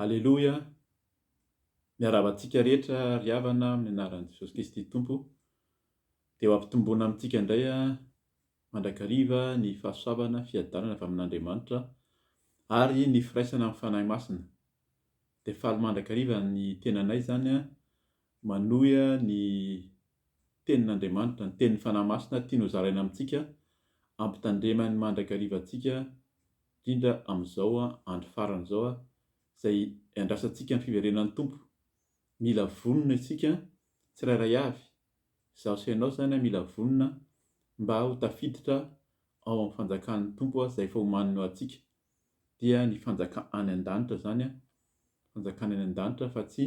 Aleloia! Miarahaba antsika rehetra ry havana amin'ny anaran'i Jesosy Kristy Tompo. Dia ho ampitomboana amintsika indray mandrakariva ny fahasoavana, fiadanana avy amin'Andriamanitra ary ny firaisana amin'ny Fanahy Masina. Dia faly mandrakariva ny tenanay izany manohy ny Tenin'Andriamanitra, ny Teniny Fanahy Masina tiany ho zaraina amintsika, ampitandremany mandrakariva antsika, indrindra amin'izao andro farany izao izay iandrasantsika ny fiverenan'ny Tompo. Mila vonona isika tsirairay avy, izaho sy ianao izany mila vonona mba ho tafiditra ao amin'ny fanjakan'ny Tompo izay efa omaniny ho antsika. dia ny fanjaka any an-danitra zany an, fanjakana any an-danitra fa tsy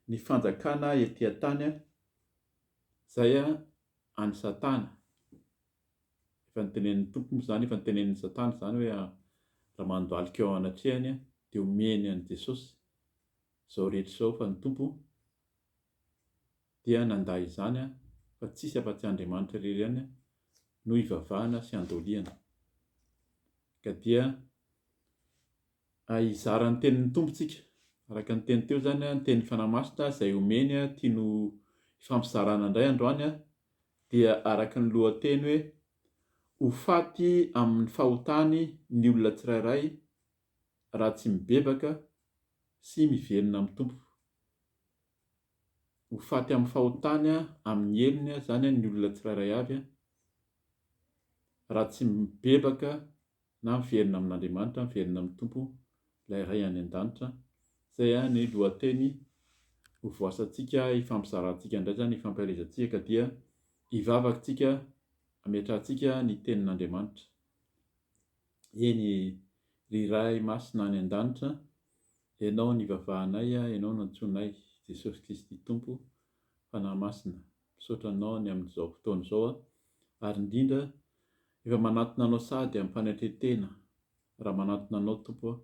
ny fanjakana ety an-tany an, zay an any satana, efa notenenin'ny Tompo moa zany, efa notenenin'ny satana zany hoe raha mandohalika eo anatrehany an dia omeny an'i Jesosy zao rehetra zao fa ny Tompo Dia nandà izany aho fa tsisy afa-tsy Andriamanitra irery ihany no ivavahana sy andoliana. Ka dia hizara ny tenin'ny Tompo tsika. Araka ny teny teo izany, ny tenin'ny Fanahy Masina izay omeny tiany ho ifampizarana indray androany dia araka ny lohateny hoe Ho faty amin'ny fahotany ny olona tsirairay raha tsy mibebaka sy mivelona amin'ny Tompo. ho faty amin'ny fahotany amin'ny helony izany ny olona tsirairay avy raha tsy mibebaka na miverina amin'Andriamanitra, miverina amin'ny Tompo ilay Ray any an-danitra. Izay ny lohateny ho voasantsika hifampizarantsika indray izany, hifampielezantsika ka dia hivavaka isika hametrahantsika ny tenin'Andriamanitra. Eny e! Ry Ray Masina any An-danitra, Ianao nivavahanay, Ianao nantsoinay, Jesosy Kristy Tompo, Fanahy Masina, misaotra Anao ny amin'izao fotoana izao aho, ary indrindra efa manatona Anao sady amim-panetre-tena, raha manatona Anao Tompo aho,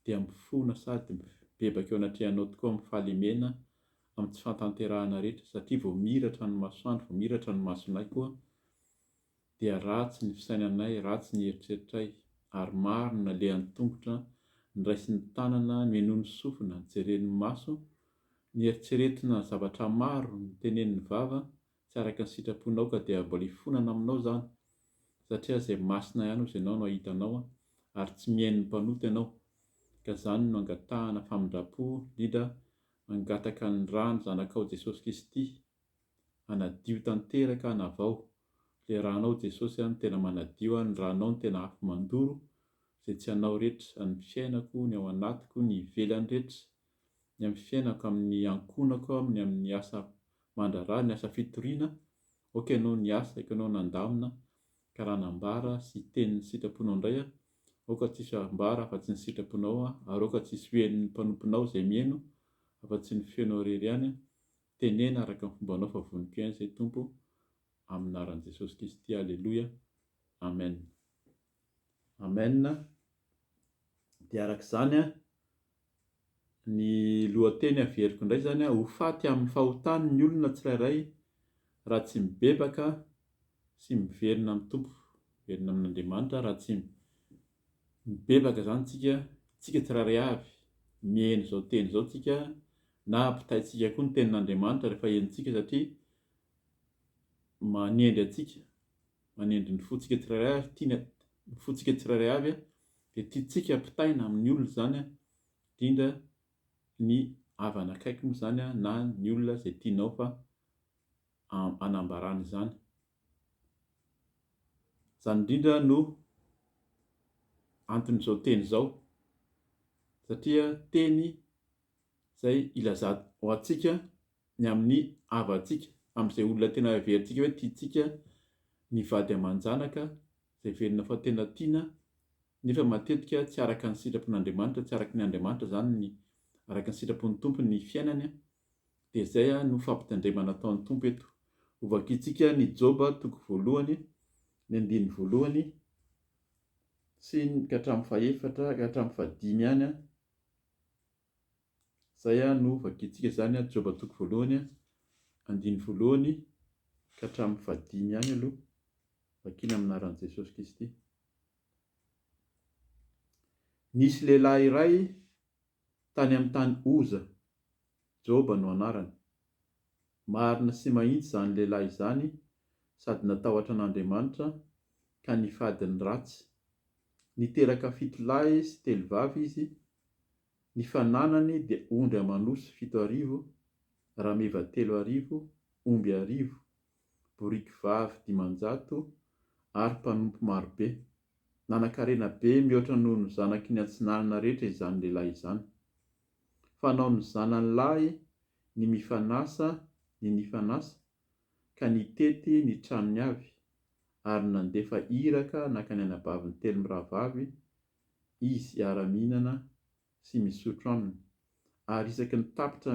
dia mifona sady mibebaka eo anatrehanao tokoa amin'ny fahalemena, amin'ny tsy fantanterahana rehetra, satria vao miratra ny masoandro, vao miratra ny masonay koa, dia ratsy ny fisainanay, ratsy ny eritreritray, ary maro ny nalehan'ny tongotra, noraisin'ny tanana, nohenoin'ny sofina, nojeren'ny maso, nieritreretina zavatra maro, notenenin'ny vava tsy araka ny sitraponao ka dia mbola hifonana aminao izany, satria izay masina ihany hozy ianao no ahitanao ary tsy mihaino ny mpanota ianao, ka izany no angatahana famindrampo, Lida, mangataka ny rà ny Zanakao Jesosy Kristy, Hanadio tanteraka an avao le ranao Jesosy an tena manadio an ny ranao ny tena afo mandoro ze tsy anao retra an ny fiainako ny ao anatiko ny ivelany retra ny amin ny fiainako amin ny ankonako amin ny amin ny asa mandrara ny asa fitoriana ok anao ny asa iko anao nandamina ka raha nambara sy teny ny sitraponao ndray an ok tsisy ambara afa tsy ny sitraponao an ary ok tsisy hoen ny mpanomponao zay mieno afa tsy ny feonao rery ihany an Teneno araka ny fombanao fa voniko ihany izay Tompo amin'ny anaran'i Jesosy Kristy Aleloia Amen Amen dia araka izany ny lohateny averiko indray izany ho faty amin'ny fahotany ny olona tsirairay raha tsy mibebaka sy miverina amin'ny Tompo miverina amin'Andriamanitra raha tsy Mibebaka zany tsika, tsika tsirairay avy, miheno izao teny izao tsika na ampitaintsika koa ny tenin'Andriamanitra rehefa henontsika satria manendry antsika, manendry ny fontsika tsirairay avy, tiany ny fontsika tsirairay avy dia tiantsika ampitaina amin'ny olona izany indrindra ny havana akaiky moa izany na ny olona izay tianao fa hanambarana izany. Izany indrindra no anton'izao teny izao, satria teny izay ilazana ho antsika ny amin'ny havantsika, amin'izay olona tena heverintsika hoe tiantsika ny vady aman-janaka, izay heverina fa tena tiana, nefa matetika tsy araka ny sitrapon'Andriamanitra, tsy araka ny Andriamanitra izany ny, araka ny sitrapon'ny Tompo ny fiainany. Dia izay no fampitandremana ataon'ny Tompo eto. Hovakintsika ny Joba toko voalohany, ny andininy voalohany sy ny ka hatramin'ny fahefatra ka hatramin'ny fahadimy ihany. Izay no hovakintsika izany, Joba toko voalohany, andininy voalohany ka hatramin'ny fahadimy ihany aloha. Vakina amin'ny anaran'i Jesosy Kristy. Nisy lehilahy iray tany amin'ny tany Oza. Joba no anarany. Marina sy mahitsy izany lehilahy izany sady natahotra an'Andriamanitra ka nifady ny ratsy. Niteraka fito lahy sy telo vavy izy, ny fananany dia ondry aman'osy fito arivo, rameva telo arivo, omby arivo, boriky vavy dimanjato ary mpanompo marobe. Nanankarena be mihoatra noho ny zanaky ny atsinanana rehetra izany lehilahy izany. Fanaon'ny zanany lahy ny mifanasa ny nifanasa ka nitety ny tranony avy ary nandefa iraka naka ny anabaviny telo mirahavavy izy hiara-mihinana sy misotro aminy ary isaky ny tapitra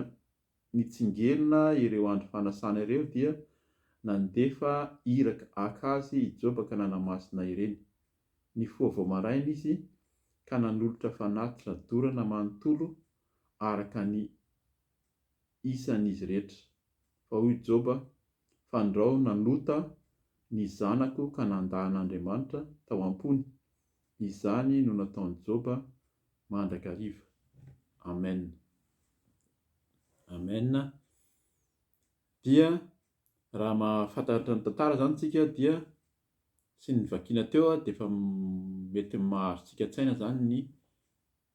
Nitsingerina ireo andro fanasana ireo dia nandefa iraka aka azy i Joba ka nanamasina ireny. Nifoha vao maraina izy ka nanolotra fanatitra dorana manontolo araka ny isan'izy rehetra. Fa hoy Joba, Fandrao nanota ny zanako ka nanda an'Andriamanitra tao am-pony, Izany no nataon'i Joba mandrakariva. Amen. Amen. Dia raha mahafantatra ny tantara izany isika dia sy ny vakiana teo dia efa mety mahazo tsika an-tsaina izany ny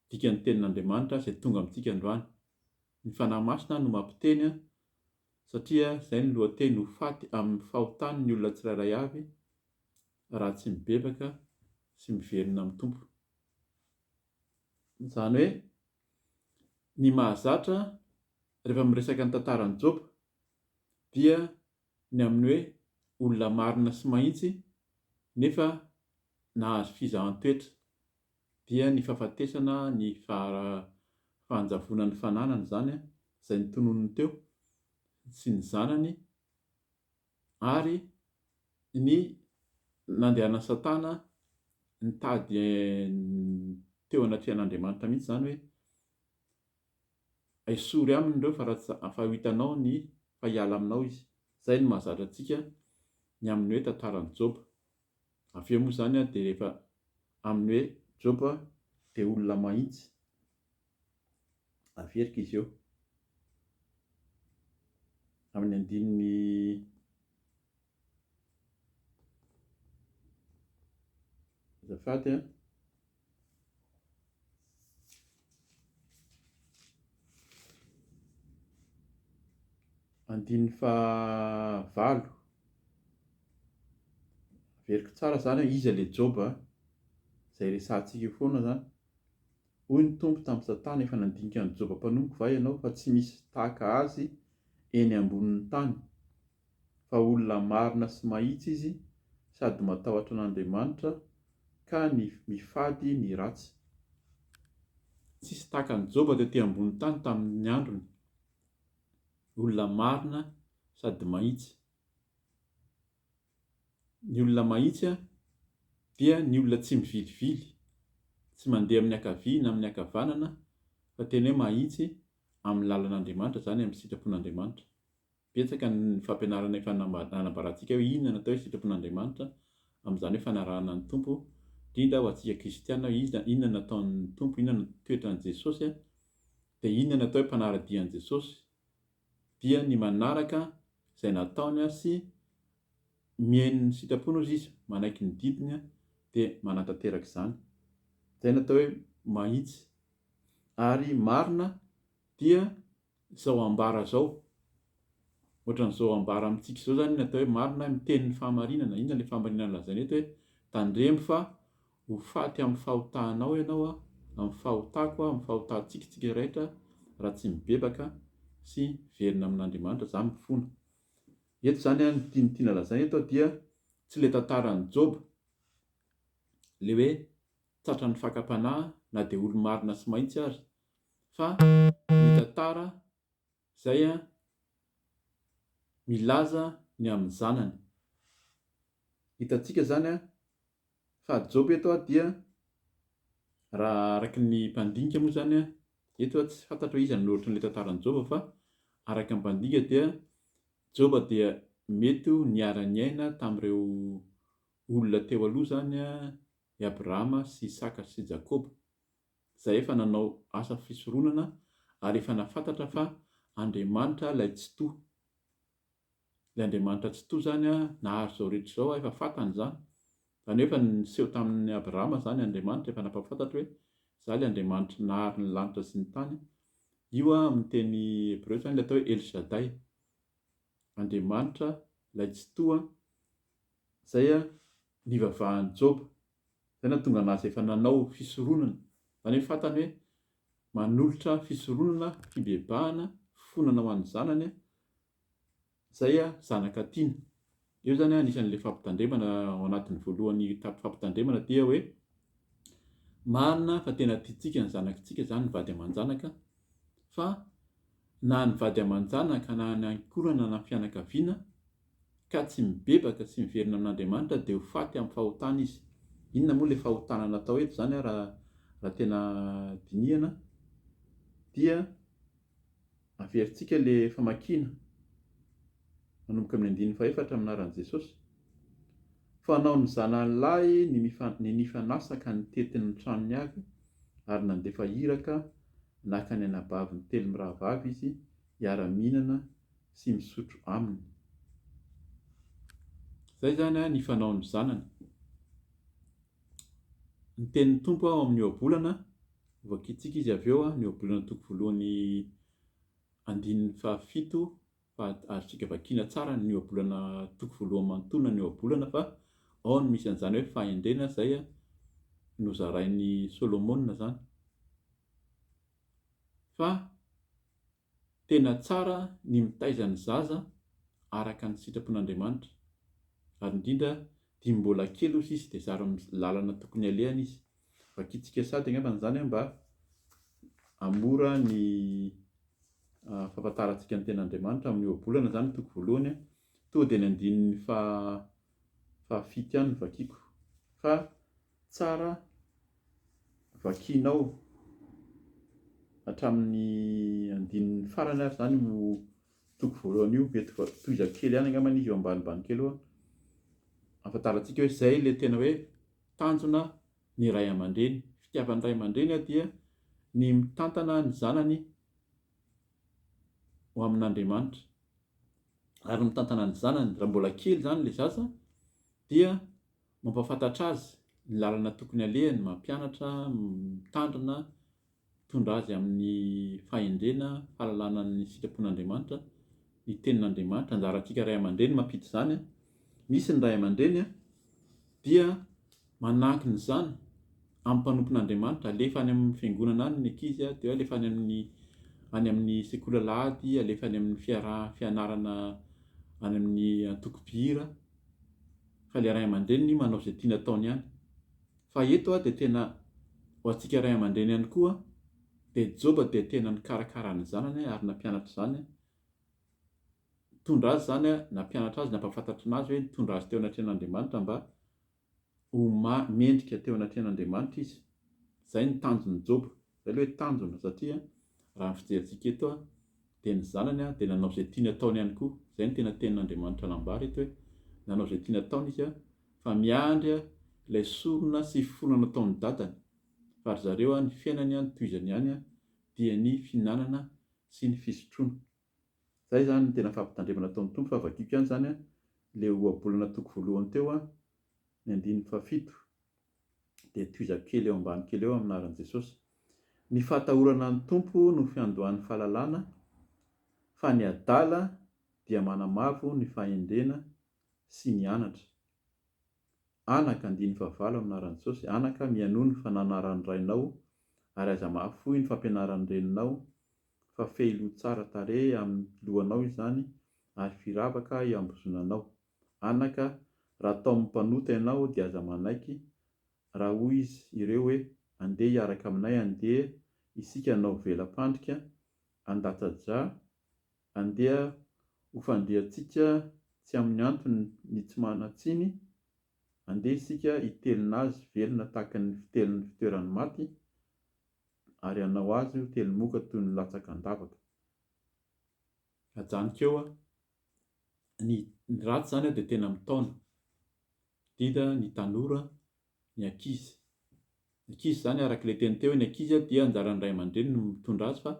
dikan'ny tenin'Andriamanitra izay tonga amintsika androany. Ny Fanahy Masina no mampiteny satria izay no lohateny ho faty amin'ny fahotany ny olona tsirairay avy raha tsy mibebaka sy miverina amin'ny Tompo. Izany hoe ny mahazatra rehefa miresaka ny tantaran'i Joba dia ny amin'ny hoe olona marina sy mahitsy nefa nahazo fizahan-toetra. dia ny fahafatesana ny faharavonan'ny fananany izany izay notononiny teo sy ny zanany ary ny nandehanan'i satana nitady teo anatrehan'Andriamanitra mihitsy izany hoe esory aminy ireo fa raha fa hitanao ny fa hiala aminao izy, izay no mahazatra antsika ny amin'ny hoe tantaran'i Joba. Avy eo moa izany an dia rehefa amin'ny hoe Joba dia olona mahitsy averika izy eo amin'ny andininy azafady an. Andininy fahavalo, averiko tsara izany hoe iza ilay Joba an, izay resahantsika eo foana izany, hoy ny Tompo tamin'i Satana, efa nandinika an'i Joba mpanompoko va ianao fa tsy misy tahaka azy eny ambonin'ny tany? fa olona marina sy mahitsy izy sady matahotra an'Andriamanitra ka ny mifady ny ratsy. Tsisy tahaka an'i Joba tety ambony tany tamin'ny androny, olona marina sady mahitsy. Ny olona mahitsy dia ny olona tsy mivilivily, tsy mandeha amin'ny ankavia na amin'ny ankavanana fa tena hoe mahitsy amin'ny lalan'Andriamanitra, izany amin'ny sitrapon'Andriamanitra. Betsaka ny fampianarana efa nanambarantsika hoe inona no atao hoe sitrapon'Andriamanitra, amin'izany hoe fanarahana ny Tompo, indrindra ho antsika kristiana hoe iza, inona no ataon'ny Tompo, inona no toetran'i Jesosy, dia inona no atao hoe mpanara-dia an'i Jesosy, dia ny manaraka izay nataony sy mihaino ny sitrapony ozy izy, manaiky ny didiny dia manatanteraka izany. Izay no atao hoe mahitsy ary marina dia izao ambara izao, ohatran'izao ambara amintsika izao izany ny atao hoe marina, miteny ny fahamarinana, inona ilay fahamarinana lazaina eto hoe, tandremo fa ho faty amin'ny fahotanao ianao aho, amin'ny fahotako aho, amin'ny fahotantsika isika rehetra raha tsy mibebaka sy miverina amin'Andriamanitra, izany mifona. Eto izany ny tiany tiana lazaina eto dia tsy ilay tantaran'i Joba, ilay hoe tratran'ny fakam-panahy na dia olo-marina sy mahitsy aza, fa ny tantara zay an milaza ny amin'ny zanany. Hitantsika zany an fa job eto an dia raha araka ny mpandinika moa zany an eto an tsy fantatro hoe iza no noratra an'ilay tantaran'i job fa araka ny mpandinika dia job dia mety ho niara-niaina tamin'ireo olona teo aloha zany an i Abrahama sy Isaka sy Jakoba izay efa nanao asa fisoronana ary efa nafantatra fa Andriamanitra ilay Tsitoha. Ilay Andriamanitra Tsitoha izany nahary izao rehetra izao efa fantany izany. Izany hoe efa niseho tamin'i Abrahama izany Andriamanitra, efa nampahafantatra hoe izaho ilay Andriamanitry ny nahary ny lanitra sy ny tany. Io amin'ny teny hebreo izany ilay atao hoe El Shaddai, Andriamanitra ilay Tsitoha, izay nivavahan'i Joba. Izay no nahatonga an'azy efa nanao fisoronana. Izany hoe fantany hoe manolotra fisoronana, fibebahana, fifonana ho an'ny zanany izay zanaka tiany. Eo izany anisan'ilay fampitandremana ao anatin'ny voalohan'ny fampitandremana dia hoe marina fa tena tiantsika ny zanakitsika izany ny vady aman-janaka fa na ny vady aman-janaka na ny ankohonana na ny fianakaviana ka tsy mibebaka sy miverina amin'Andriamanitra dia ho faty amin'ny fahotana izy. Inona moa ilay fahotana natao eto izany ary raha tena dinihana dia averintsika ilay famakiana manomboka amin'ny andininy fahefatra amin'ny anaran'i Jesosy. Fanao ny zanany lahy ny nifanasa ka nitety ny tranony avy ary nandefa iraka naka ny anabaviny telo mirahavavy izy hiara-mihinana sy misotro aminy. Izay izany ny fanaon'ny zanany. Ny tenin'ny Tompo ao amin'ny ohabolana, voakitsiky izy avy eo, ny ohabolana toko voalohany andininy fahafito, fa azontsika vakiana tsara ny ohabolana toko voalohany manontolona ny ohabolana fa ao no misy an'izany hoe fahendrena izay nozarain'i Solomona izany. Fa Tena tsara ny mitaiza ny zaza araka ny sitrapon'Andriamanitra, ary indrindra dimy mbola kely hoy sisa dia zara amin'ny lalana tokony alehany izy. Vakintsika sady angambany izany mba hamora ny fahafantarantsika ny tenan'Andriamanitra amin'ny ohabolana izany ny toko voalohany, toa dia ny andininy faha fahafito ihany no vakiako fa tsara vakianao hatramin'ny andininy farany ary izany io toko voalohany io, mety voatohizako kely ihany angambany izy eo ambanimbany kely eo an, ahafantarantsika hoe izay ilay tena hoe tanjona ny ray aman-dreny, fitiavan'ny ray aman-dreny dia ny mitantana ny zanany ho amin'Andriamanitra ary ny mitantana ny zanany raha mbola kely izany ilay zaza dia Mampahafantatra azy ny lalana tokony alehany, mampianatra, mitandrina, mitondra azy amin'ny fahendrena, fahalalana ny sitrapon'Andriamanitra, ny Tenin'Andriamanitra. Anjarantsika ray aman-dreny mampita izany. Misy ny ray aman-dreny dia manankina izany amin'ny mpanompon'Andriamanitra, alefa any amin'ny fiangonana any ny ankizy, dia alefa any amin'ny any amin'ny sekoly alahady, alefa any amin'ny fiaraha-fianarana any amin'ny antokom-pihira. fa ilay ray aman-dreniny manao izay tiany ataony ihany. Fa eto dia tena ho antsika ray aman-dreny ihany koa dia Joba dia tena nikarakara ny zanany ary nampianatra izany, nitondra azy izany, nampianatra azy, nampahafantatra anazy hoe nitondra azy teo anatrehan'Andriamanitra mba ho mendrika teo anatrehan'Andriamanitra izy. Izay ny tanjon'i Joba. Izay aloha hoe tanjona satria raha ny fijerentsika eto dia ny zanany dia nanao izay tiany ataony ihany koa. Izay no tena tenin'Andriamanitra nambara eto hoe nanao izay tiany ataony izy fa miandry ilay sorona sy finoana nataon'ny dadany fa ry zareo ny fiainany no tohizany ihany dia ny fihinanana sy ny fisotroana. Izay izany no tena fampitandremana ataon'ny Tompo fa vakiko ihany izany ilay ohabolana toko voalohany teo ny andininy fahafito. dia tohizako kely eo ambany kely eo amin'ny anaran'i Jesosy. Ny fahatahorana an'ny Tompo no fiandohan'ny fahalalana, fa ny adala dia manamavo ny fahendrena sy ny anatra. Anaka, andiny fahavalo amin'ny anaran'i Jesosy, anaka, mihainoa ny fananaran'ny rainao ary aza mahafoy ny fampianaran'ny reninao, fa fehiloha tsara tarehy amin'ny lohanao izany ary firavaka hiambozonanao. Anaka, raha taomin'ny mpanota ianao dia aza manaiky, raha hoy izy ireo hoe, Andeha hiaraka aminay andeha isika hanao vela-pandrika an-datsa-drà, andeha ho fandriantsika tsy amin'ny antony ny tsy manan-tsiny, andeha isika hitelina azy velona tahaka ny fitelin'ny fitoeran'ny maty, ary hanao azy ho telin-moka toy ny latsaka an-davaka. ajanoko eo an! Ny ny ratsy izany an dia tena mitaona, indrindra ny tanora, ny ankizy. Ny ankizy izany araka ilay teny teo hoe ny ankizy an dia anjaran'ny ray aman-dreniny ny mitondra azy fa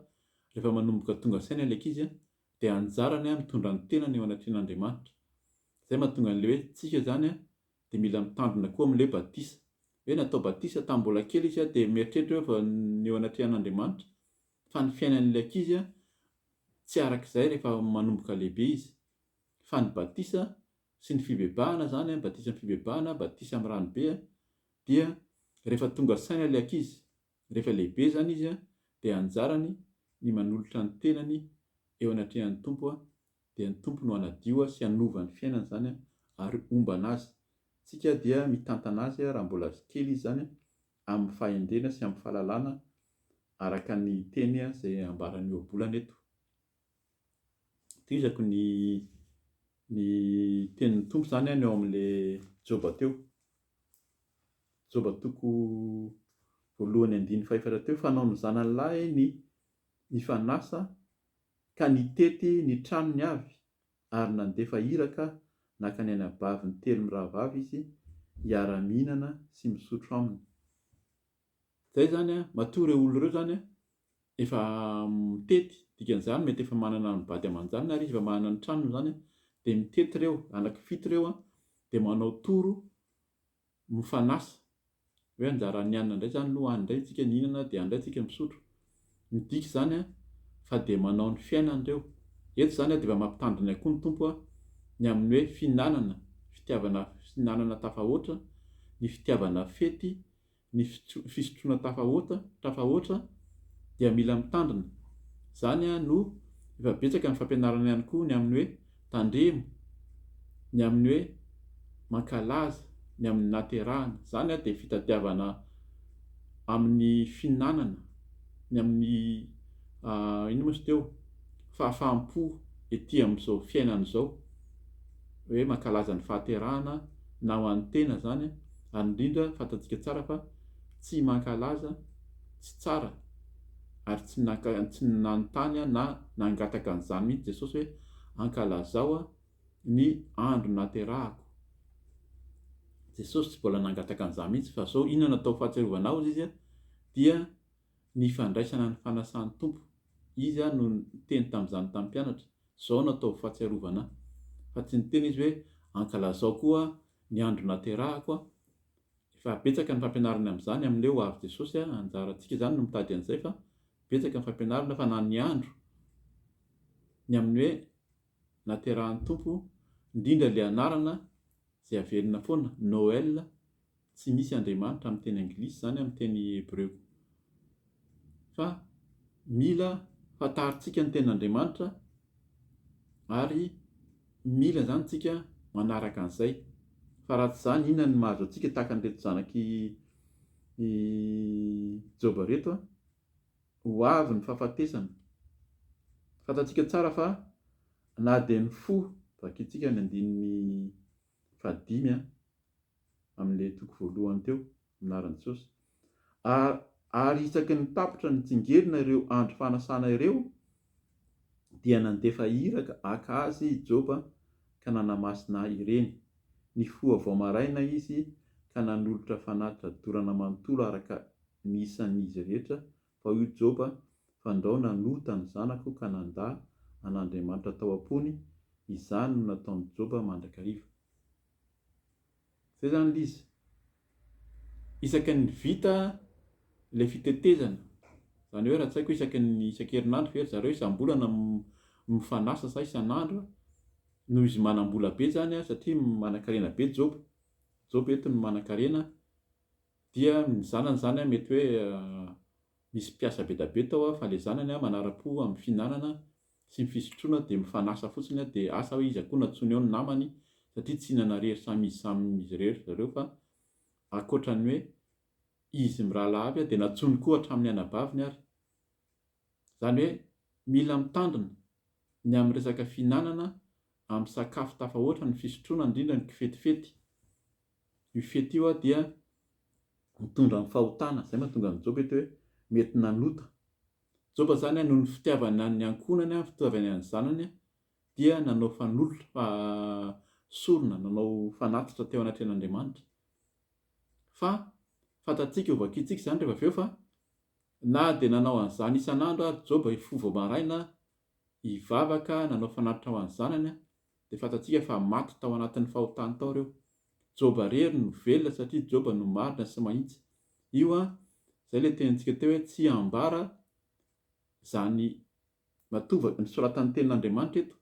rehefa manomboka tonga saina ilay ankizy an dia anjarany an mitondra ny tenany eo anatrehan'Andriamanitra. Izay mahatonga an'ilay hoe tsika izany an dia mila mitandrina koa amin'ilay batisa. Hoe natao batisa tamin'ny mbola kely izy an dia mieritreritra hoe efa ny eo anatrehan'Andriamanitra, fa ny fiainan'ilay ankizy tsy araka izay rehefa manomboka lehibe izy, fa ny batisa sy ny fibebahana izany, batisa amin'ny fibebahana, batisa amin'ny rano be, dia rehefa tonga saina ilay ankizy, rehefa lehibe izany izy, dia anjarany ny manolotra ny tenany eo anatrehan'ny Tompo, dia ny Tompo no hanadio sy hanova ny fiainany izany ary homba an'azy, tsika dia mitantana azy raha mbola kely izy izany amin'ny fahendrena sy amin'ny fahalalana araka ny teny izay ambaran'ny ohabolana eto. Tohizako ny ny tenin'ny Tompo izany any ao amin'ilay Joba teo. Joba toko voalohany andininy fahefatra teo, fanao ny zanany lahy ny nifanasa ka nitety ny tranony avy ary nandefa iraka nakany anabaviny telo mirahavavy izy hiara-mihinana sy misotro aminy. Izay izany an, matoa ireo olona ireo izany an, efa mitety, dikan'izany mety efa manana ny vady aman-janany ary izy efa manana ny tranony izany an, dia mitety ireo, anaky fito ireo an, dia manao tour Mifanasa. Hoe anjaran'ny hanina indray izany aloha any indray isika nihinana dia any indray isika misotro. Midika izany fa dia manao ny fiainany ireo. Eto izany dia efa mampitandrina koa ny Tompo ny amin'ny hoe fihinanana, fitiavana fihinanana tafahoatra, ny fitiavana fety, ny fisotroana tafahoatra, tafahoatra dia mila mitandrina. Izany no efa betsaka ny fampianarana ihany koa ny amin'ny hoe. Tandremo ny amin'ny hoe mankalaza ny amin'ny naterahana. Izany dia fitadiavana amin'ny fihinanana, ny amin'ny inona moa izy teo, fahafaham-po ety amin'izao fiainana izao. Hoe mankalaza ny fahaterahana na ho an'ny tena izany, ary indrindra fantantsika tsara fa tsy mankalaza, tsy tsara ary tsy naka tsy nanontany aho na nangataka an'izany mihitsy Jesosy hoe ankalazao ny andro naterahako. Jesosy tsy mbola nangataka an'izany mihitsy fa zao inona no atao fahatsiarovana aho hozy izy dia ny fandraisana ny fanasan'ny Tompo. Izy ary no niteny tamin'izany tamin'ny mpianatra, zao no atao fahatsiarovana ahy. Fa tsy niteny izy hoe ankalazao koa ny andro naterahako Efa betsaka ny fampianarany amin'izany amin'ilay ho avy Jesosy a, anjarantsika izany no mitady an'izay fa betsaka ny fampianarana fa na ny andro ny amin'ny hoe naterahan'ny Tompo indrindra ilay anarana izay averina foana Noël tsy misy Andriamanitra amin'ny teny anglisy izany amin'ny teny hebreo. fa mila fantarintsika ny tenin'Andriamanitra ary mila izany isika manaraka an'izay fa raha tsy izany inona ny mahazo antsika tahaka an'ireto zanak'i Joba ireto a ho avy ny fahafatesana fantatsika tsara fa na dia ny fo vakitsika ny andininy fahadimy an, amin'ilay toko voalohany teo, ny anaran'i Jesosy. Ary, ary isaky ny tapitra ny tsingerina ireo andro fanasana ireo, dia nandefa iraka haka azy i Joba ka nanamasina ireny. Nifoha vao maraina izy ka nanolotra fanatitra dorana manontolo araka ny isan'izy rehetra Tao io Joba, fandrao nanota ny zanako ka nandà an'Andriamanitra tao am-pony, izany no nataon'i Joba mandrakariva. Zay zany ilay izy. Isaky ny vita ilay fitetezana, zany hoe ra-tsaiko isaky ny isan-kerinandro ve ry zareo isam-bolana mifanasa sa isan'andro, noho izy manam-bola be zany satria manankarena be Joba, Joba eto no manankarena Dia ny zanany izany an, mety hoe misy mpiasa bedabe tao an, fa ilay zanany an manara-po amin'ny fihinanana sy ny fisotroana dia mifanasa fotsiny an, dia asa hoe iza koa no antsoiny ao ny namany satria tsy hihinana irery samy izy samy izy irery ry zareo fa ankoatra ny hoe izy mirahalahy avy an, dia nantsoiny koa hatramin'ny anabaviny ary. Izany hoe mila mitandrina ny amin'ny resaka fihinanana amin'ny sakafo tafahoatra ny fisotroana indrindra ny kifetifety. Io fety io dia mitondra amin'ny fahotana, izay mahatonga an'i Joba eto hoe mety nanota. Joba izany noho ny fitiavana ny ankohonany, ny fitiavany ny zanany dia nanao fanolotra, sorona, nanao fanatitra teo anatrehan'Andriamanitra. Fa fantatsika ho vakintsika izany rehefa avy eo fa Na dia nanao an'izany isan'andro ary Joba hifoha vao maraina, hivavaka, nanao fanatitra ho an'ny zanany, dia fantatsika fa maty tao anatin'ny fahotany tao ireo. Joba irery no velona satria Joba no marina sy mahitsy. Io an, izay ilay tenintsika teo hoe tsy ambara izany Matoa ny soratan'ny tenin'Andriamanitra eto,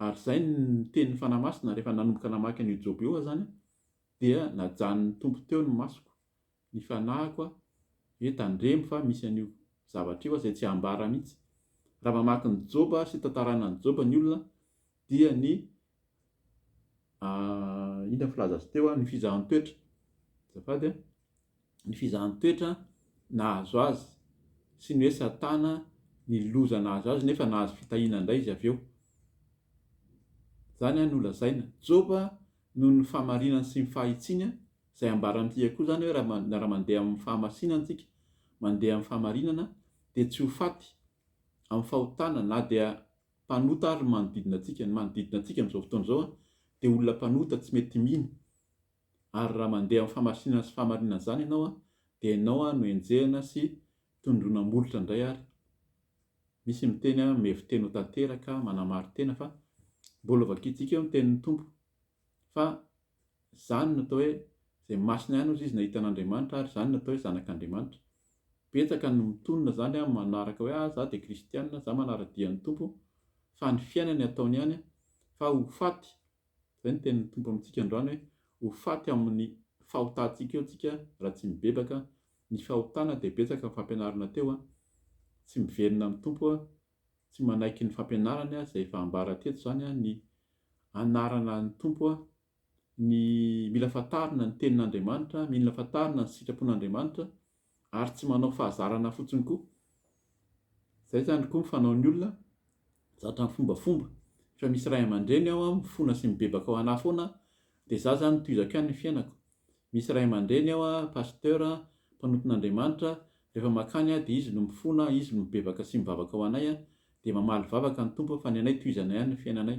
ary izay no nitenin'ny Fanahy Masina rehefa nanomboka namaky an'io Joba io aho izany aho, dia najanon'ny Tompo teo ny masoko, ny fanahiko aho hoe tandremo fa misy an'io zavatra io aho izay tsy hambara mihitsy. Raha mamaky ny Joba sy tantarana an'i Joba ny olona dia ny inona filaza azy teo ny fizahan-toetra azafady a, ny fizahan-toetra nahazo azy sy ny hoe satana ny loza nahazo azy nefa nahazo fitahiana indray izy avy eo, zany a no lazaina, Joba noho ny fahamarinany sy ny fahitsiany izay ambaran'ity hehy koa zany hoe raha mandeha amin'ny fahamasinana tsika mandeha amin'ny fahamarinana dia tsy ho faty amin'ny fahotana na dia mpanota ary ny manodidina antsika. Ny manodidina antsika amin'izao fotoana izao dia olona mpanota tsy mety mino ary raha mandeha amin'ny famasinana sy fahamarinana izany ianao dia ianao no enjehina sy tondroina molotra indray ary misy miteny hoe mievi-teny ho tanteraka, manamari-tena fa mbola vakiantsika eo ny tenin'ny Tompo. Fa izany no atao hoe izay masina ihany hozy izy nahita an'Andriamanitra ary izany no atao hoe zanak'Andriamanitra. Betsaka no mitonona izany an, manaraka hoe ah za dia kristianina, za manara-dia ny Tompo, fa ny fiainany ataony ihany an, fa ho faty, izay no tenin'ny Tompo amintsika androany hoe ho faty amin'ny fahotantsika eo tsika raha tsy mibebaka, ny fahotana dia betsaka ny fampianarana teo an, tsy miverina amin'ny Tompo an, tsy manaiky ny fampianarany izay efa ambara teto izany ny anarana ny Tompo, ny mila fantarina ny tenin'Andriamanitra, mila fantarina ny sitrapon'Andriamanitra ary tsy manao fahazarana fotsiny koa. Izay izany koa ny fanaon'ny olona, zatra mifombafomba. Efa misy ray aman-dreny ao mifona sy mibebaka ao anà foana dia izaho izany tohizako ihany ny fiainako. Misy ray aman-dreny ao ah, Pasteur ah, mpanontin'Andriamanitra, rehefa mankany ah dia izy no mifona, izy no mibebaka sy mivavaka ho anay ah, dia mamaly vavaka ny Tompo fa ny anay tohizana ihany ny fiainanay.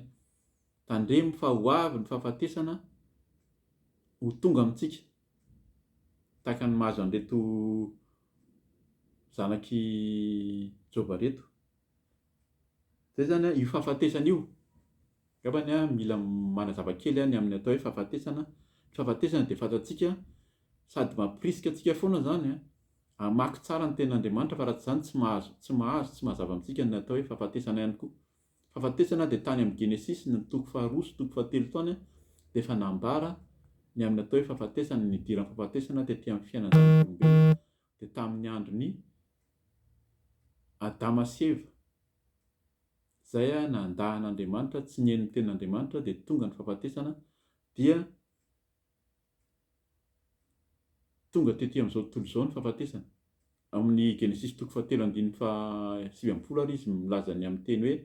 Tandremo fa ho avy ny fahafatesana ho tonga amintsika, tahaka ny mahazo an'ireto zanak'i Joba ireto. Zay zany an, io fahafatesana io, angamba ny an mila manazava kely an ny amin'ny atao hoe fahafatesana, ny fahafatesana dia fantatsika sady mampirisika antsika foana zany an hamaky tsara ny tenin'Andriamanitra fa raha tsy zany tsy mahazo tsy mahazo tsy mazava amintsika ny atao hoe fahafatesana ihany koa. Fahafatesana dia tany amin'ny Genesisy ny toko faharoa sy toko fahatelo tany an dia efa nambara ny amin'ny atao hoe fahafatesana ny nidiran'ny fahafatesana tety amin'ny fiainan'ny zanak'olombelona dia tamin'ny andron'i Adama sy Eva, izay nandà an'Andriamanitra, tsy nihaino ny tenin'Andriamanitra, dia tonga ny fahafatesana, dia tonga tety amin'izao tontolo izao ny fahafatesana. Amin'ny Genesisy toko fahatelo andininy fahasivy ambin'ny folo ary izy milaza ny amin'ny teny hoe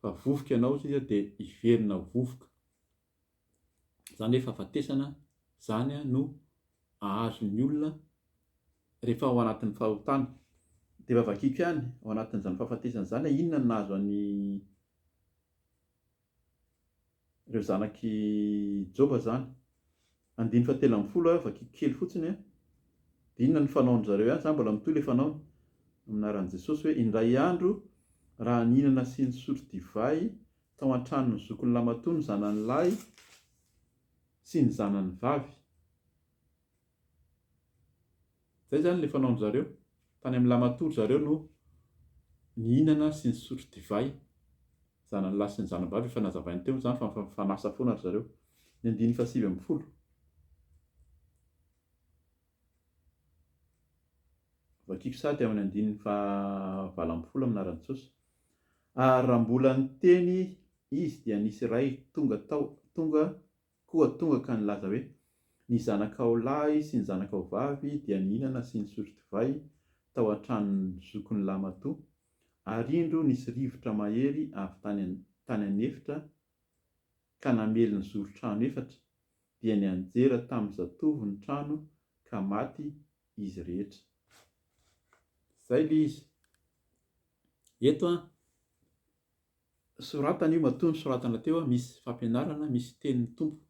fa vovoka ianao, hoy izy, dia hiverina ho vovoka. Zany hoe fahafatesana zany no ahazon'ny olona rehefa ao anatin'ny fahotana. Dia efa vakiko ihany ao anatin'izany fahafatesana izany hoe inona no nahazo an'i reo zanak'i Joba zany. Andininy fahatelo ambin'ny folo aho vakiko kely fotsiny an, dia inona no fanaon-dry zareo ihany zany mbola mitohy ilay fanaony amin'ny anaran'i Jesosy hoe indray andro raha nihinana sy nisotro divay Tao an-tranon'ny zokin'i Lamatoa ny zanany lahy sy ny zanany vavy. Izay izany ilay fanaon-dry zareo. Tany amin'i Lamatoa ry zareo no nihinana sy nisotro divay. Zanany lahy sy ny zanany vavy efa nazavainy teo izany fa mifanasa foana ry zareo. Ny andininy fahasivy ambin'ny folo. Vakiako sahady amin'ny andininy faha valo ambin'ny folo amin'ny anaran'i Jesosy. Ary raha mbola niteny Izy dia nisy iray tonga tao, tonga, koa tonga ka nilaza hoe, Ny zanakao lahy sy ny zanakao vavy dia nihinana sy nisotro divay tao an-tranon'ny zokin'ny lahimatoa, ary indro nisy rivotra mahery avy tany, tany an'efitra ka namely ny zoron-trano efatra, dia nianjera tamin'ny zatovo ny trano ka maty izy rehetra. Izay ilay izy. Eto an, soratana io matoa ny soratana teo, misy fampianarana, misy tenin'ny Tompo.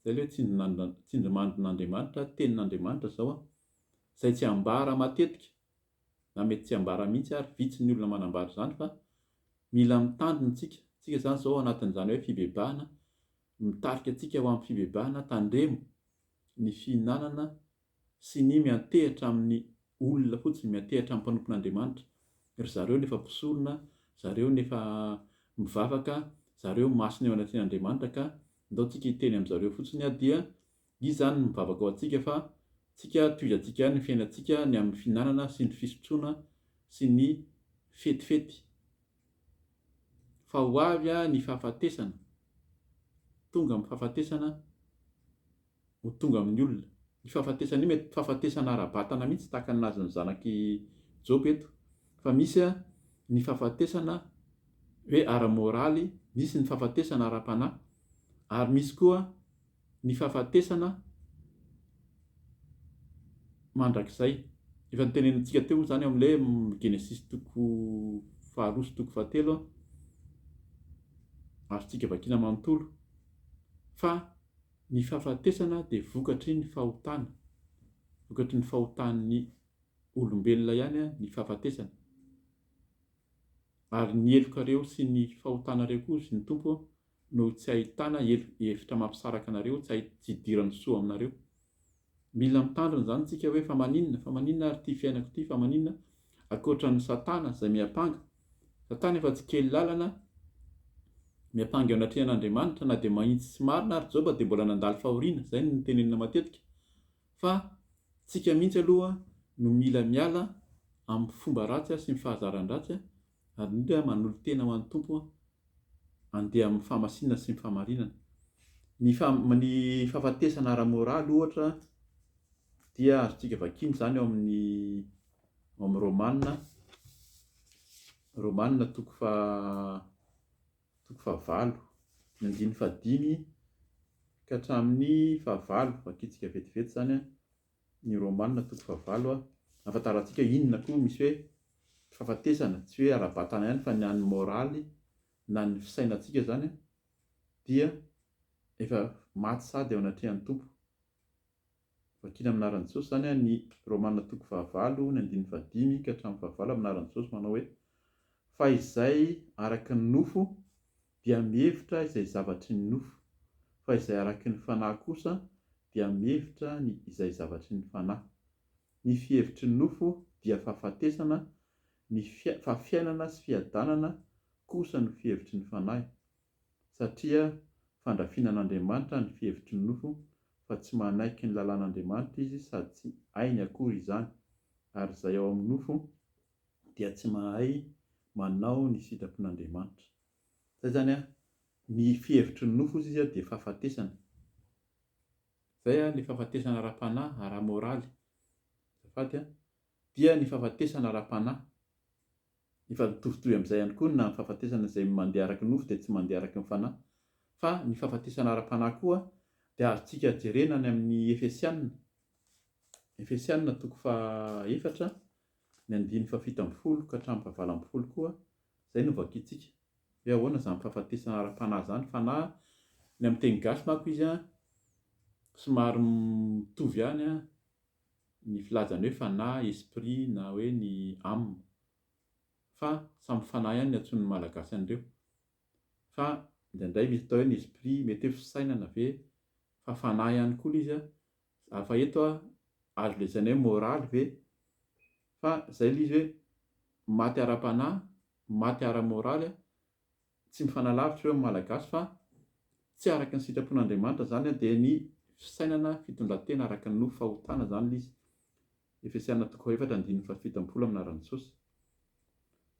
Izay ilay hoe tsindrimandrin'Andriamanitra, tenin'Andriamanitra izao an, izay tsy ambara matetika, na mety tsy ambara mihitsy ary, vitsy ny olona manambara izany fa mila mitandrina isika. Isika izany izao anatin'izany hoe fibebahana, Mitarika antsika ho amin'ny fibebahana, tandremo ny fihinanana sy ny miantehitra amin'ny olona fotsiny, miantehitra amin'ny mpanompon'Andriamanitra, ry zareo nefa mpisorona, zareo nefa mivavaka, zareo masina eo anatrehan'Andriamanitra ka ndao tsika hiteny amin'zareo fotsiny dia Izy izany no mivavaka ho antsika fa tsika tohizantsika ihany ny fiainantsika ny amin'ny fihinanana sy ny fisotroana sy ny fetifety. Fa ho avy ny fahafatesana, tonga amin'ny fahafatesana ho tonga amin'ny olona. Io fahafatesana io mety fahafatesana ara-batana mihitsy tahaka ny nahazon'ny zanak'i Joba eto. Fa misy ny fahafatesana hoe ara-moraly, misy ny fahafatesana ara-panahy ary misy koa ny fahafatesana mandrakizay. Efa notenenintsika teo moa izany ao amin'ilay Genesisy toko faharoa sy toko fahatelo, azontsika vakina manontolo, fa ny fahafatesana dia vokatry ny fahotana, vokatry ny fahotan'ny olombelona ihany ny fahafatesana. Ary ny helokareo sy ny fahotanareo koa, hoy ny Tompo, no tsy ahitana hevitra mampisaraka anareo, tsy hidiran'ny soa aminareo. Mila mitandrina izany isika hoe fa maninona, fa maninona ary ity fiainako ity, fa maninona ankoatran'ny satana izay miampanga. Satana efa tsy kely lalana miampanga eo anatrehan'Andriamanitra na dia mahitsy sy marina ary Joba dia mbola nandalo fahoriana, izay no notenenina matetika. Fa tsika mihitsy aloha no mila miala amin'ny fomba ratsy sy ny fahazaran-dratsy Ary indrindra aho manolo-tena ho an'ny Tompo handeha amin'ny fahamasinana sy ny fahamarinana. Ny faha, ny fahafatesana ara-moraly ohatra dia azontsika vakina izany ao amin'ny, ao amin'ny Romana, Romana toko faha, toko fahavalo, ny andininy fahadimy ka hatramin'ny fahavalo, vakintsika vetivety izany an, Ny Romana toko fahavalo a. Ahafantarantsika inona koa misy hoe fahafatesana, tsy hoe ara-batana ihany fa ny an'ny moraly na ny fisainantsika izany dia efa maty sady eo anatrehan'ny Tompo. Vakiana amin'ny anaran'i Jesosy izany a, ny Romana toko fahavalo ny andininy fahadimy ka hatramin'ny fahavalo amin'ny anaran'i Jesosy manao hoe, fa izay araka ny nofo dia mihevitra izay zavatry ny nofo, fa izay araky ny Fanahy kosa dia mihevitra ny izay zavatry ny Fanahy. Ny fihevitry ny nofo dia fahafatesana, ny fa fiainana sy fiadanana kosa no fihevitry ny Fanahy, satria fandrafinan'Andriamanitra ny fihevitry ny nofo, fa tsy manaiky ny lalàn'Andriamanitra izy sady tsy hainy akory izany, ary izay ao amin'ny nofo dia tsy mahay manao ny sitrapon'Andriamanitra. Zay izany an, ny fihevitry ny nofo izy dia fahafatesana. Izay an, ny fahafatesana ara-panahy, ara-moraly. Azafady an, dia ny fahafatesana ara-panahy. Efa mitovitovy amin'izay ihany koa na ny fahafatesana izay mandeha araka ny nofo dia tsy mandeha araka ny fanahy. Fa ny fahafatesana ara-panahy koa dia azontsika jerena any amin'ny Efesiana, Efesiana toko faha efatra, ny andininy fahafito ambin'ny folo ka hatramin'ny faha valo ambin'ny folo koa Izay no vakintsika. Hoe ahoana izany fahafatesana ara-panahy izany? Fanahy, ny amin'ny teny gasy manko izy an, somary mitovy ihany an, ny filazany hoe fanahy, esprit na hoe ny âme. Fa samy fanahy ihany ny antsoin'ny Malagasy an'ireo. Fa indraindray misy atao hoe ny esprit, mety hoe fisainana ve? Fa fanahy ihany koa ilay izy an, Za fa eto ah, azo lazaina hoe moraly ve? Fa zay le izy hoe maty ara-panahy, maty ara-moraly ah, tsy mifanalavitra ireo amin'ny Malagasy fa tsy araka ny sitrapon'Andriamanitra zany ah, dia ny fisainana, fitondran-tena araka ny nofo, fahotana zany le izy. Efesiana toko fahaefatra andininy fahafito ambin'ny folo amin'ny anaran'i Jesosy.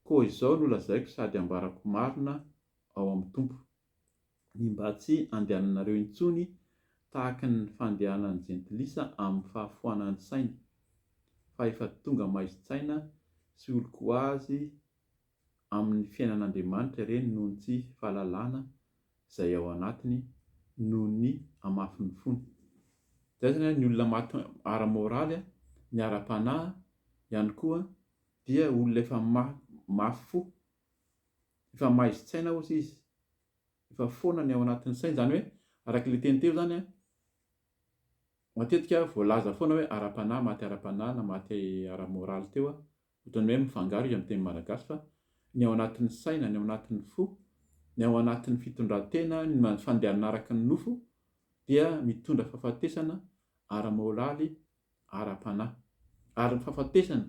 Koa izao no lazaiko sady ambarako marina ao amin'ny Tompo. ny mba tsy handehananareo intsony tahaka ny fandehanan'ny Jentilisa amin'ny fahafoanan'ny sainy, fa efa tonga maizin-tsaina sy oloko ho azy amin'ny fiainan'Andriamanitra ireny noho ny tsy fahalalana izay ao anatiny noho ny hamafin'ny fony. Izay izany ny olona maty ara-moraly, ny ara-panahy ihany koa dia olona efa mafy fo, efa maizin-tsaina hozy izy. efa foana ny ao anatin'ny sainy, izany hoe araka ilay teny teo izany an, matetika voalaza foana hoe ara-panahy, maty ara-panahy na maty ara-moraly teo an, ohatran'ny hoe mifangaro izy amin'ny teny malagasy fa ny ao anatin'ny saina, ny ao anatin'ny fo, ny ao anatin'ny fitondran-tena, ny fandehanana araka ny nofo dia mitondra fahafatesana ara-moraly ara-panahy. Ary ny fahafatesana,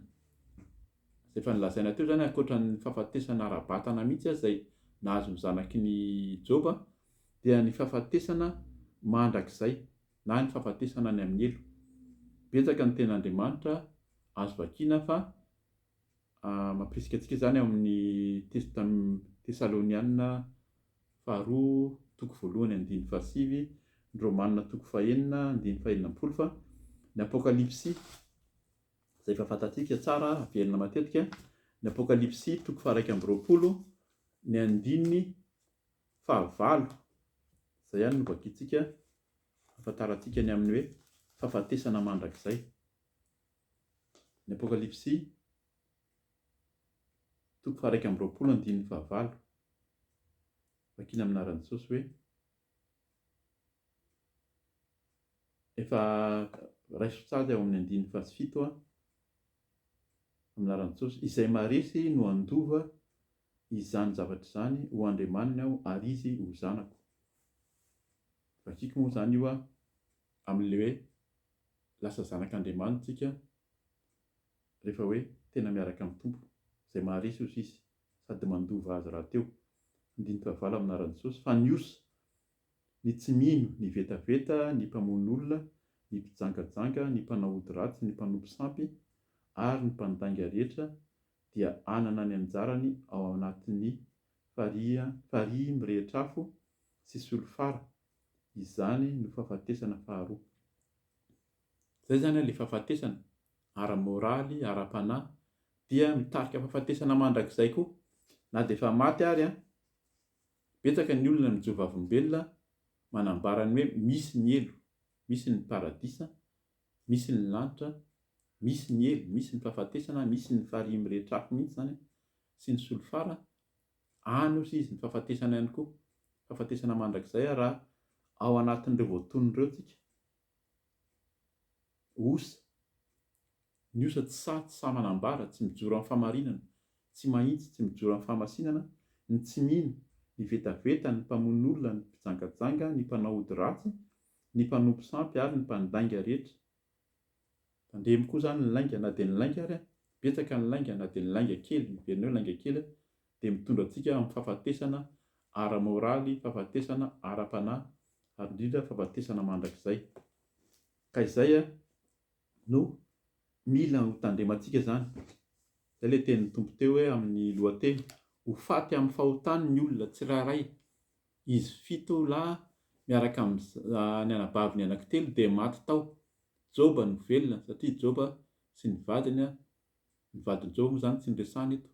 izay efa nolazaina teo izany, ankoatra ny fahafatesana ara-batana mihitsy aza izay nahazo ny zanaky ny Joba, dia ny fahafatesana mandrakizay, na ny fahafatesana any amin'ny helo. Betsaka ny tenin'Andriamanitra azo vakiana fa. Mampirisika antsika izany ao amin'ny Testo tamin'ny Tesalonianina faharoa toko voalohany andininy fahasivy, ny Romanina toko fahenina andininy fahenina ambin'ny folo fa ny Apokalypsy izay efa fantatsika tsara averina matetika, ny Apokalypsy toko faharaika amby roapolo ny andininy fahavalo izay ihany no vakintsika hahafantarantsika ny amin'ny hoe fahafatesana mandrakizay. Ny Apokalypsy, toko faha-iraika amby roapolo andininy fahavalo, vakina amin'ny anaran'i Jesosy hoe, Efa raiso tsara ao amin'ny andininy fahafito aho, amin'ny anaran'i Jesosy, izay maharesy no handova izany zavatra izany ho andriamaniny aho ary izy ho zanako. Vakiko moa izany io aho. Amin'ilay hoe lasa zanak'Andriamanitra isika rehefa hoe tena miaraka amin'ny Tompo, izay maharesy osa Izy sady mandova azy rahateo. Handinika vala amin'ny anaran'i Jesosy fa ny osa, ny tsy mino, ny vetaveta, ny mpamono olona, ny mpijangajanga, ny mpanao ody ratsy, ny mpanompo sampy, ary ny mpandainga rehetra dia hanana ny anjarany ao anatin'ny farihy mirehitra afo sy solifara Izany no fahafatesana faharoa. Izay izany ilay fahafatesana ara-moraly, ara-panahy, dia mitarika fahafatesana mandrakizay koa. Na dia efa maty ary an! Betsaka ny olona mijoro vavolombelona manambara ny hoe misy ny helo, misy ny paradisa, misy ny lanitra, misy ny helo, misy ny fahafatesana, misy ny farihy mirehitra afo mihitsy izany an! sy ny solifara Any osa izy ny fahafatesana ihany koa, fahafatesana mandrakizay ary raha ao anatin'ireo voatonona ireo tsika, osa, ny osa tsy sahy, tsy sahy manambara, tsy mijoro amin'ny fahamarinana, tsy mahitsy, tsy mijoro amin'ny fahamasinana, ny tsy mino, ny vetaveta, ny mpamono olona, ny mpijangajanga, ny mpanao ody ratsy, ny mpanompo sampy ary ny mpandainga rehetra, Tandremo koa izany ny lainga na dia ny lainga ary betsaka ny lainga na dia ny lainga kely, heverina hoe lainga kely, dia mitondra antsika amin'ny fahafatesana ara-moraly, fahafatesana ara-panahy ary indrindra fahafatesana mandrakizay. Ka izay no mila ho tandremantsika izany. Izay ilay tenin'ny Tompo teo hoe amin'ny lohateny, Ho faty amin'ny fahotany ny olona tsirairay Izy fito lahy miaraka amin'ny anabaviny anankitelo dia maty tao. Joba no velona satria Joba sy ny vadiny, ny vadin'i Joba moa izany tsy noresahina eto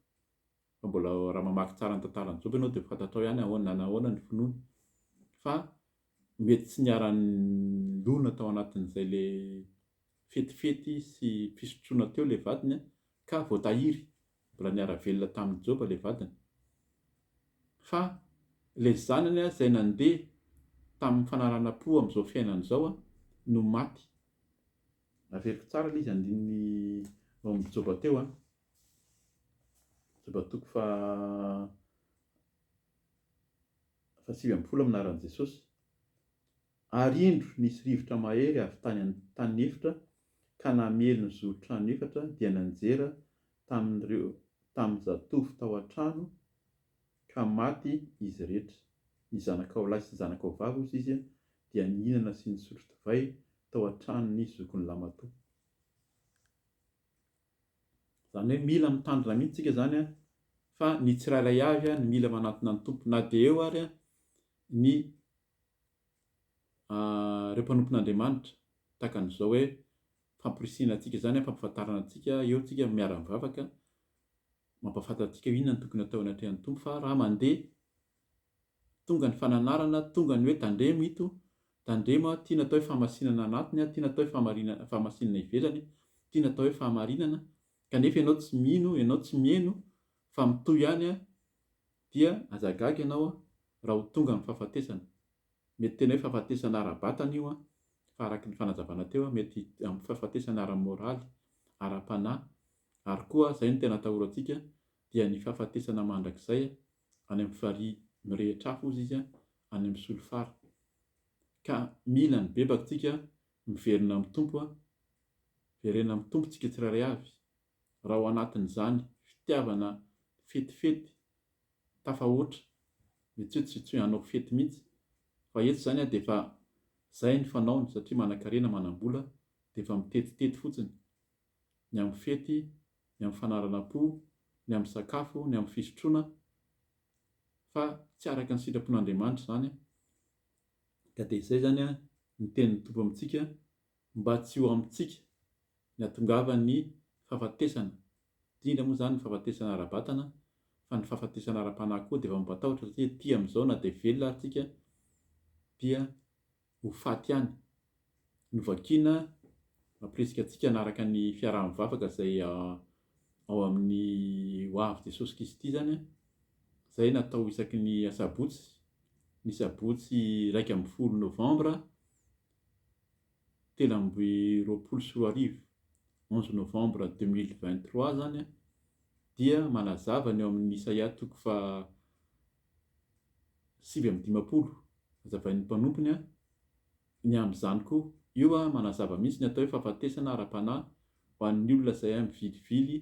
fa mbola raha mamaky tsara ny tantaran'i Joba ianao dia ho fantatrao ihany ahoana na nahoana ny finoany fa mety tsy niara-nilona tao anatin'izay le fetifety sy fisotroana teo ilay vadiny ka voatahiry. Mbola niara velona taminy Joba ilay vadiny. Fa ilay zanany izay nandeha taminy fanarahana po amin'izao fiainana izao no maty. Averiko tsara ilay izy andininy ao amin'ny Joba teo an. Joba toko faha fahasivy ambin'ny folo amin'ny anaran'i Jesosy. Ary indro nisy rivotra mahery avy tany an-tany efitra ka namely ny zoron-trano efatra dia nanjera tamin'ireo tamin'ny zatovo tao an-trano ka maty izy iretra. Ny zanakao lahy sy ny zanakao vavy osa izy dia nihinana sy nisotro divay tao an-tranon'ny zokin'i Lamatoa. Izany hoe mila mitandrina mihitsy isika izany fa ny tsirairay avy no mila manantona ny Tompo na dia eo ary ny ireo mpanompon'Andriamanitra, tahaka an'izao hoe famporisihina antsika izany an, fampahafantarana antsika, eo isika miara-mivavaka, mampahafantatra antsika hoe inona no tokony hatao eny an-trehan'ny Tompo, fa raha mandeha, tonga ny fananarana, tonga ny hoe tandremo ito, tandremo an, ity no atao hoe fahamasinana anatiny, ity no atao hoe fahamarinana, fahamasinana ivelany, ity no atao hoe fahamarinana, kanefa ianao tsy mino, ianao tsy miheno, fa mitohy ihany an, dia aza gaga ianao raha ho tonga ny fahafatesana. Mety tena hoe fahafatesana ara-batana io fa araka ny fanazavana teo mety amin'ny fahafatesana ara-moraly, ara-panahy ary koa izay no tena atahorantsika dia ny fahafatesana mandrakizay any amin'ny farihy mirehitra hafa hozy izy any amin'ny solifara. Ka mila ny bebaka tsika miverina amin'ny Tompo, verenina amin'ny Tompo tsika tsirairay avy raha ao anatin'izany fitiavana fetifety tafahoatra dia tsy hoe tsy tsy hoe hanao fety mihitsy fa eto izany dia efa izay ny fanaony satria manankarena manambola dia efa mitetitety fotsiny ny amin'ny fety ny amin'ny fanaranam-po ny amin'ny sakafo ny amin'ny fisotroana fa tsy araka ny sitrapon'Andriamanitra izany ka dia izay izany ny tenin'ny Tompo amintsika Mba tsy ho amintsika ny hatongavan'ny fahafatesana, indrindra moa izany ny fahafatesana ara-batana, fa ny fahafatesana ara-panahy koa dia efa mampatahotra satria ety amin'izao na dia velona ary tsika dia ho faty ihany. Novakina mampirisika antsika hanaraka ny fiaraha-mivavaka izay ao amin'ny Ho avy Jesosy Kristy izany an, izay natao isaky ny asabotsy, ny sabotsy iraika ambin'ny folo novambra telo amby roapolo sy roa arivo, onze novembre deux mille vingt trois, izany dia manazava ny ao amin'ny Isaia toko fahasivy amby dimampolo hazavain'ny mpanompony ny amin'izany koa. Io manazava mihitsy ny atao hoe fahafatesana ara-panahy ho an'ny olona izay mivilivily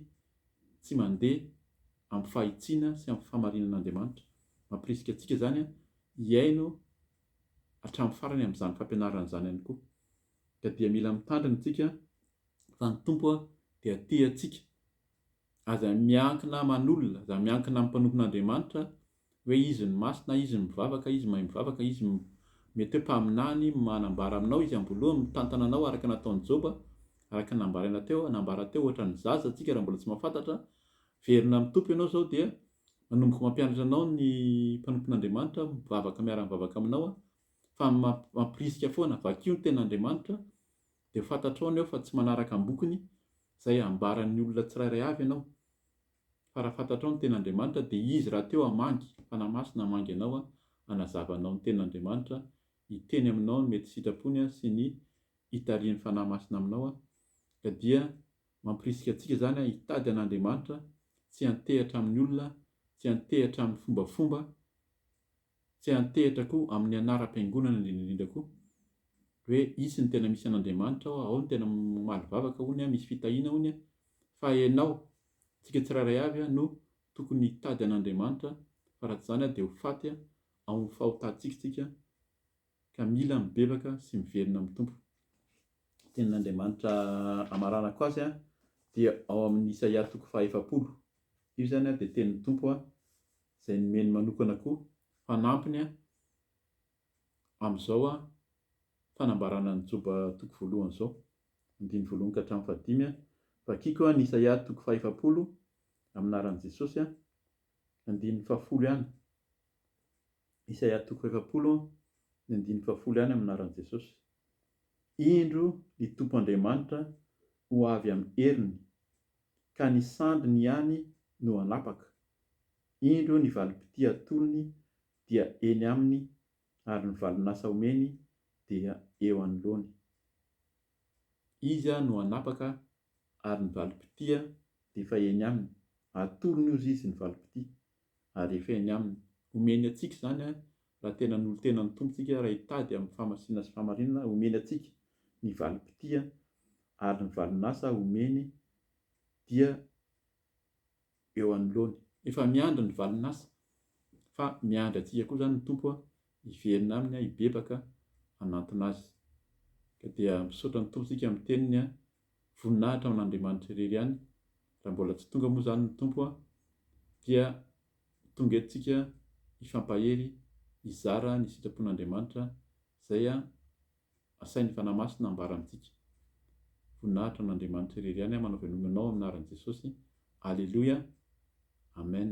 tsy mandeha amin'ny fahitsiana sy amin'ny fahamarinan'Andriamanitra. Mampirisika antsika izany hihaino. hatramin'ny farany amin'izany fampianarana izany ihany koa. Ka dia mila mitandrina isika fa ny Tompo dia tia antsika. Aza miankina aman'olona, aza miankina amin'ny mpanompon'Andriamanitra hoe izy no masina, izy no mivavaka, izy mahay mivavaka, izy no mety hoe mpaminany, manambara aminao izy am-boalohany, mitantana anao araka ny nataon'i Joba, araka ny nambaraina teo, nambara teo ohatra ny zaza, antsika raha mbola tsy mahafantatra, velona amin'ny Tompo ianao izao dia Manomboka mampianatra anao ny mpanompon'Andriamanitra aho, mivavaka miara-mivavaka aminao aho, fa mampirisika foana, vakio ny Tenin'Andriamanitra, dia ho fantatrao ny eo fa tsy manaraka am-bokony izay ambaran'ny olona tsirairay avy ianao, fa raha fantatrao ny Tenin'Andriamanitra, dia Izy rahateo hamangy, Fanahy Masina hamangy anao hanazava anao ny Tenin'Andriamanitra, hiteny aminao ny mety sitrapony sy ny hitarihin'ny Fanahy Masina aminao, ka dia Mampirisika antsika izany hitady an'Andriamanitra, tsy hantehitra amin'ny olona, tsy hantehitra amin'ny fombafomba, tsy hantehitra koa amin'ny anaram-piangonana indrindra indrindra koa. Hoe hisy ny tena misy an'Andriamanitra ao, ao ny tena mamaly vavaka hono, misy fitahiana hono, fa ianao, antsika tsirairay avy no tokony hitady an'Andriamanitra, fa raha tsy izany dia ho faty ao amin'ny fahotantsika isika. ka mila mibebaka sy miverina amin'ny Tompo. Ny tenin'Andriamanitra amaranako azy dia ao amin'ny Isaia toko fahaefapolo. Io izany dia tenin'ny Tompo izay nomeny manokana koa fanampiny amin'izao fanambarana ny Joba toko voalohany izao, andininy voalohany ka hatramin'ny fahadimy, Vakiko ny Isaia toko fahaefapolo amin'ny anaran'i Jesosy, andininy fahafolo ihany. Isaia toko efapolo ny andininy fahafolo ihany amin'ny anaran'i Jesosy. Indro ny Tompo Andriamanitra ho avy amin'ny heriny, ka ny sandriny ihany no hanapaka, indro ny valim-pitia atolony dia eny aminy ary ny valin'asa omeny dia eo anoloany. Izy no hanapaka ary ny valim-pitia dia efa eny aminy, atolony ozy izy ny valim-pitia, ary efa eny Aminy. Omeny antsika izany raha tena nolo-tena ny Tompo isika, raha hitady amin'ny fahamasina sy fahamarinana omeny antsika ny valim-pitia ary ny valin-asa omeny dia eo anoloany. Efa miandry ny valin-asa fa miandry antsika koa izany ny Tompo hiverina Aminy hibebaka hanantona Azy. Ka dia misaotra ny Tompo isika amin'ny Teniny voninahitra ho an'Andriamanitra irery ihany, raha mbola tsy tonga moa izany ny Tompo a, dia tonga eto tsika hifampahery hizara ny sitrapon'Andriamanitra izay asain'ny Fanahy Masina ambara amintsika. Voninahitra ho an'Andriamanitra irery ihany a, manao veloma anao amin'ny anaran'i Jesosy, Aleloia, Amen.